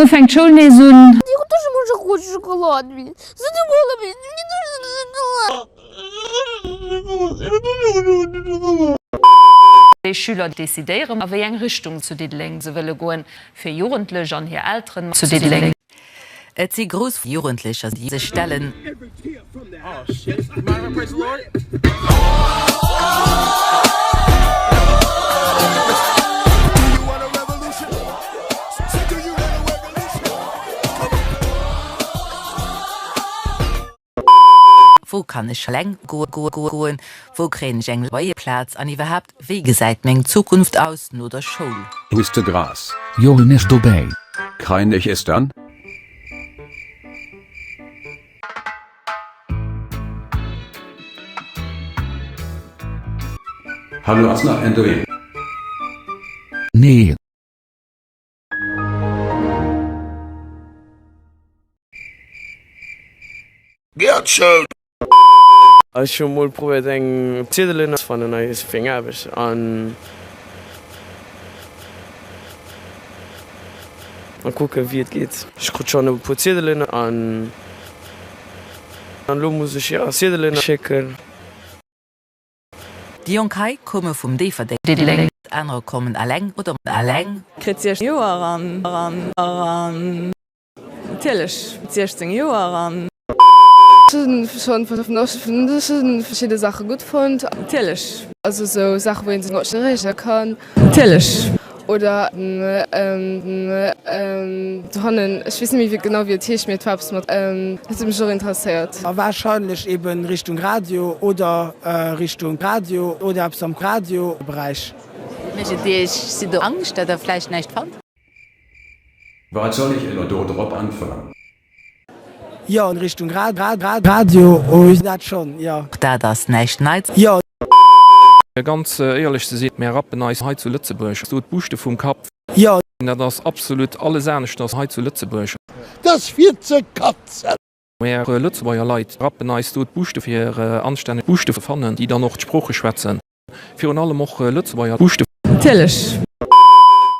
Muer fänkt d'Schoul nees un. Ech hunn dech emol scho gefrot, Schockoladen wéi se du geholl hunn, wéi si duerch de Gesin gelaaf. Déi Schüler decidéieren, a wéi eng Richtung zu Diddeleng se wëlle goen. Fir Jugendlech an hir Elteren mat zu Diddeleng. Et si grouss Jugendlecher, déi sech stellen. Wou kann ech eleng goen? Wou kréien ech eng Loyerplaz? An iwwerhaapt, wéi gesäit meng Zukunft aus no der Schoul? Hues de Gras? Jo, en ass dobäi. Krein ech es dann? Hallo, ass nach en do? Nee. Gerd Schou! Ech hu mol probéiert eng Ziedelen ze fannen a fir eng Aarbecht an kucken wéi et geet. Ech krut schonn e puer Ziedelen an elo muss ech jo Ziedelen schécken. Déi jonk hei koume vum Déifferdeng, anerer kommen eleng oder mat engem Kand. Kritt 16 Joer an. Natierlech, 16 Joer an. Schonn vun der Schonn verschidde Saache gutt fonnt. Natierlech. Also esou Saache wou ee sech mat erëege kann. Natierlech. Oder do hannen, ech weess net méi genau wéi et heescht, mee et war eppes mat, dat huet mech och interesséiert. A wahrscheinlech eben Richtung Radio oder Richtung Radio oder eppes am Radioberäich. Mécht et Iech, sidd Der Angscht, datt Der vläicht näischt fannt? Wat soll ech elo do drop äntweren? Jo, an Richtung Radio hues dat schon, jo. Och dat ass näischt Neits. Jo. Fir ganz éierlech ze sinn, mär rappen eis hei zu Lëtzebuerg esou d'Buuschte vum Kapp. Jo. Dat ass absolut alles aneschters hei zu Lëtzebuerg. Dat ass fir ze katzen. Mär Lëtzebuerger Leit rappen eis do d'Buuschte fir anstänneg Buuschte ze fannen, déi dann och d'Sprooche schwätzen. Virun allem och Lëtzebuerger Buuschte. Natierlech.